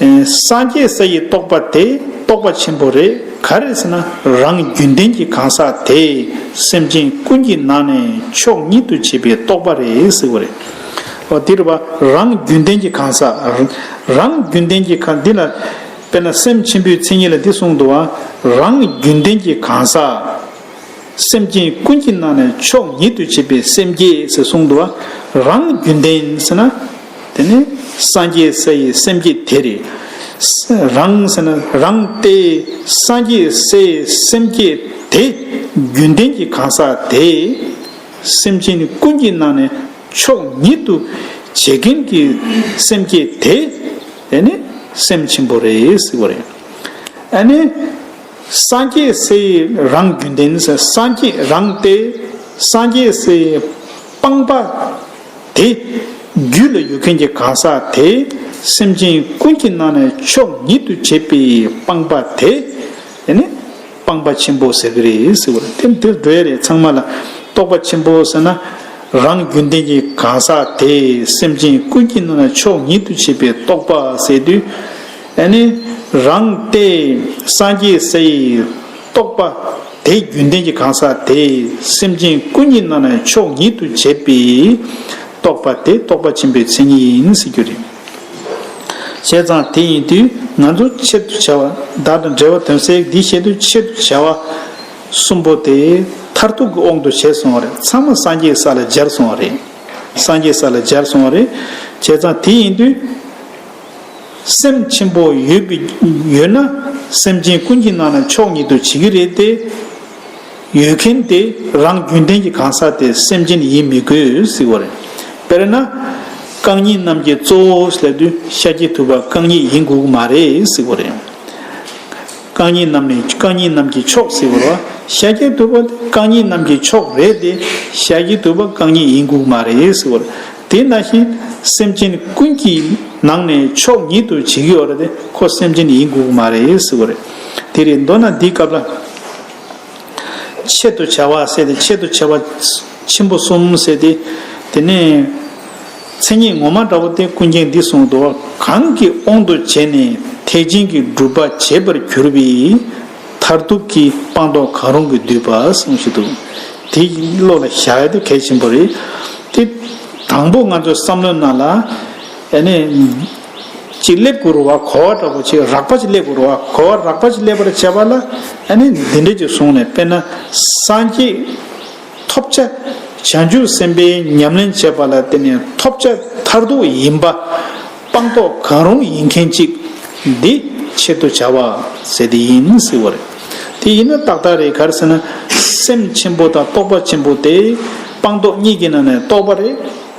སངས་རྒྱས་ས་ཡི་རྟོགས་པ་དེ་རྟོགས་པ་ཆེན་པོ་རེད་ག་རེད་ཟེར་ན་རང་རྒྱུན་ལྡན་གྱི་གང་ཟག་དེས་སེམས་ཅན་ཀུན་གྱི་ནང་ནས་མཆོག་ཉིད་དུ་བྱེད་པའི་རྟོགས་པ་རེད་ཟེར་བ་རེད། འོ་དེར་བ་རང་རྒྱུན་ལྡན་གྱི་གང་ཟག་རང་རྒྱུན་ལྡན་གྱི་གང་འདི་ལ་དཔེར་ན་སེམས་ཆེན་པོའི་མཚན་ཉིད་ལ་འདི་གསུངས་འདུག་རང་རྒྱུན་ལྡན་གྱི་གང་ཟག་སེམས་ཅན་ཀུན་གྱི་ནང་ནས་མཆོག་ཉིད་དུ་བྱེད་པའི་སེམས་བསྐྱེད་ཟེར་གསུངས་འདུག་རང་རྒྱུན་ལྡན་ཟེར་ན། དེ་ནས་སངས་རྒྱས་ས་ཡི་སེམས་བསྐྱེད་དེ། རང། རང། སྟེ། སངས་རྒྱས་སའི་སེམས་བསྐྱེད་དེ། རྒྱུན་ལྡན་གྱི་གང་ཟག་དེ། སེམས་ཅན་ཀུན་གྱི་ནང་ནས་མཆོག་ཉིད་དུ། བྱེད་མཁན་གྱི་སེམས་བསྐྱེད་དེ། དེ་ནི་སེམས་ཆེན་པོ་རེ་ཟེར་བ་རེད། ཨ་ནི། སངས་རྒྱས་སའི་རང་རྒྱུན་ལྡན། སངས་རྒྱས་རང་སྟེ། སངས་རྒྱས་སའི་སྤངས་པ། དེ། རྒྱུད་ལ་ཡོད་མཁན་གྱི་གང་ཟག་དེ། སེམས་ཅན་ཀུན་གྱི་ནང་ནས་མཆོག་ཉིད་དུ་བྱེད་པའི་སྤངས་པ་དེ། དེ་ནི། སྤངས་པ་ཆེན་པོ་ཟེར་གྱི་རེད་ཟེར་བ་རེད། དེ་འདིར་འགྲོ་ཡ་རེད་ཚང་མ་ལ། རྟོགས་པ་ཆེན་པོ་ཟེར་ན། རང་རྒྱུད་ལྡན་གྱི་གང་ཟག་དེ། སེམས་ཅན་ཀུན་གྱི་ནང་ནས་མཆོག་ཉིད་དུ་བྱེད་པའི་རྟོགས་པ་ཟེར་དུས། དེ་ནི། རང་སྟེ། སངས་རྒྱས་སའི། རྟོགས་པ། དེའི་རྒྱུན་ལྡན་གྱི་གང་ཟག་དེས་སེམས་ཅན་ཀུན་ཉིད་རྣམས་ནི་ཕྱོགས་ཉིད་དུ་བྱས་པས། རྟོགས་པ་དེ་རྟོགས་པ་ཆེན་པོའི་མཚན་ཉིད་ཡིན་ཟེར་རྒྱུ་རེད། བྱས་ཙང་དེ་ཡིན་དུས་ང་ཚོ་ཆེད་དུ་བྱ་བ་བདག་དང་འབྲེལ་བ་དོན་སེལ་འདི་བྱེད་དུས་ཆེད་དུ་བྱ་བ་གསུམ་པོ་དེ་མཐར་ཐུག་གི་དབང་དུ་བྱས་སོང་བ་རེད་ཚང་མ་སངས་རྒྱས་ས་ལ་སྦྱར་སོང་བ་རེད། སངས་རྒྱས་ས་ལ་སྦྱར་སོང་བ་རེད། བྱས་ཙང་དེ་ཡིན་དུས། སེམས་ཆེན་པོ་ཡོད་པའི་ཡོད་ན་སེམས་ཅན་ཀུན་གྱི་ནང་ན་མཆོག་ཉིད་དུ་བྱེད་ཀྱི་རེད་དེ། ཡོད་མཁན་དེ་རང་རྒྱུན་ལྡན་གྱི་གང་ཟག་དེ་སེམས་ཅན་ཡིན་མི་དགོས་ཟེར་བ་རེད། དཔེར་ན། རྐང་གཉིས་རྣམས་ཀྱི་གཙོ་བོ་ལྷ་དུས་ཤཱཀྱའི་ཐུབ་པ་རྐང་གཉིས་ཡིན་དགོས་ཀྱི་མ་རེད་ཟེར་བ་རེད། རྐང་གཉིས་རྣམས་ནི་རྐང་གཉིས་རྣམས་ཀྱི་མཆོག་ཟེར་བར་བ་ཤཱཀྱའི་བསྟོད་པ་དེ་རྐང་གཉིས་རྣམས་ཀྱི་མཆོག་རེད་དེ། ཤཱཀྱའི་བསྟོད་པ་རྐང་གཉིས་ཡིན་དགོས་མ་རེད་ཟེར་བར། དེས་ན་བཞིན་སེམས་ཅན་ཀུན་གྱི་ནང་ནས་མཆོག་ཉིད་དུ་བྱེད་དགོས་བར་དེ་ཁོ་སེམས་ཅན་ཡིན་དགོས་མ་རེད་ཟེར་བ་རེད། དེ་རེད་མདོར་ན་འདིའི་སྐབས་ལ། ཆེད་དུ་བྱ་བ་ཟེར་ཏེ་ཆེད་དུ་བྱ་བ་ཆེན་པོ་གསུམ་ཟེར་ཏེ། དེ་ནས། མཚན་ཉིད་ངོ་མ་འདྲ་བོ་སྟེ་ཀུན་མཁྱེན་འདིས་གསུངས་སོ། གང་གི་དབང་དུ་བྱས་ནས་ཐེག་ཆེན་གྱི་སྒྲུབ་པ་བྱེད་པར་གྱུར་པའི། མཐར་ཐུག་གི་སྤངས་རྟོགས་གང་རུང་གིས་བསྡུས་པ་གསུངས་ཞེས་དུ། དེ་བློ་ལ་བཞག་ཡོད་དེ་གལ་ཆེན་པོ་རེད་དེ། དང་པོ་ང་ཚོས་བསམ་བློའི་ནང་ལ། ཨེ་ནས། ཅི་སླེབས་དགོས་རུང་བ་གོ་བ་འདྲ་བོ་ཆེ་རགས་པ་ཅིག་སླེབས་དགོས་རུང་བ་གོ་བ་རགས་པ་ཅིག་སླེབས་པར་བྱ་བ་ལ། ཨེ་ནས་འདི་འདྲས་ཀྱི་བཟུང་ནས་དཔེར་ན། སངས་རྒྱས། ཐོབ་བྱ། བྱང་ཆུབ་སེམས་དཔའི་ཉམས་ལེན་བྱེད་པ་ལ་བརྟེན་ནས་ཐོབ་བྱ་མཐར་ཐུག་ཡིན་པ། སྤངས་རྟོགས་གང་རུང་ཡིན་མཁན་གཅིག། འདི་ཆེད་དུ་བྱ་བ་ཟེར་དེ་ཡིན་མི་སྲིད་བ་རེད། དེ་ཡིན་ན་ཏག་ཏག་རེད་ག་རེ་ཟེར་ན། སེམས་ཆེན་པོ་དང་རྟོགས་པ་ཆེན་པོ་དེ། སྤངས་རྟོགས་གཉིས་ཀྱི་ནང་ནས་རྟོགས་པ་རེད།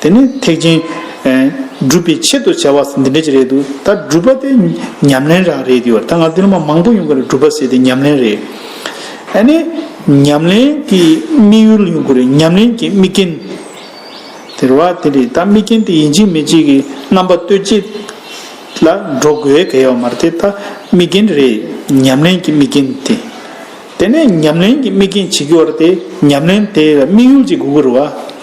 དེ་ནི་ཐེག་ཆེན། སྒྲུབ་པའི་ཆེད་དུ་བྱ་བ་འདི་འདྲ་ཅིག་རེད་འདུག་ད་སྒྲུབ་པ་དེ་ཉམས་ལེན་རང་རེད་འདུག་ད་ང་ཚོ་སྡེ་སློབ་མ་མང་པོ་ཡོང་གི་རེད་སྒྲུབ་པ་ཟེར་དེ་ཉམས་ལེན་རེད། ཨ་ནི་ཉམས་ལེན་གྱི་དམིགས་ཡུལ་ཡོང་གི་རེད་ཉམས་ལེན་གྱི་དམིགས་རྐྱེན། དེ་རེད་དེ་རེད་ད་དམིགས་རྐྱེན་དེ་ཡིན་གཅིག་མིན་གཅིག་གི་རྣམ་པ་གཏོད་བྱེད་ལ་འགྲོ་དགོས་གལ་ཡོད་མ་རེད་དེ་ད་དམིགས་རྐྱེན་རེད་ཉམས་ལེན་གྱི་དམིགས་རྐྱེན་དེ། དེ་ནས་ཉམས་ལེན་གྱི་དམིགས་རྐྱེན་ཇི་དགེ་བར་དེ་ཉམས་ལེན་དེ་དམིགས་ཡུལ་གྱི་དགུ་དགུར་བ།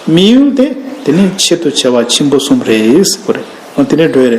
དམིགས་ཡུལ་དེ་དེ་ནས་ཆེད་དུ་བྱ་བ་ཆེན་པོ་གསུམ་རེ་ཟེར་བ་རེད། དེ་ནས་འགྲོ་ཡི་རེད།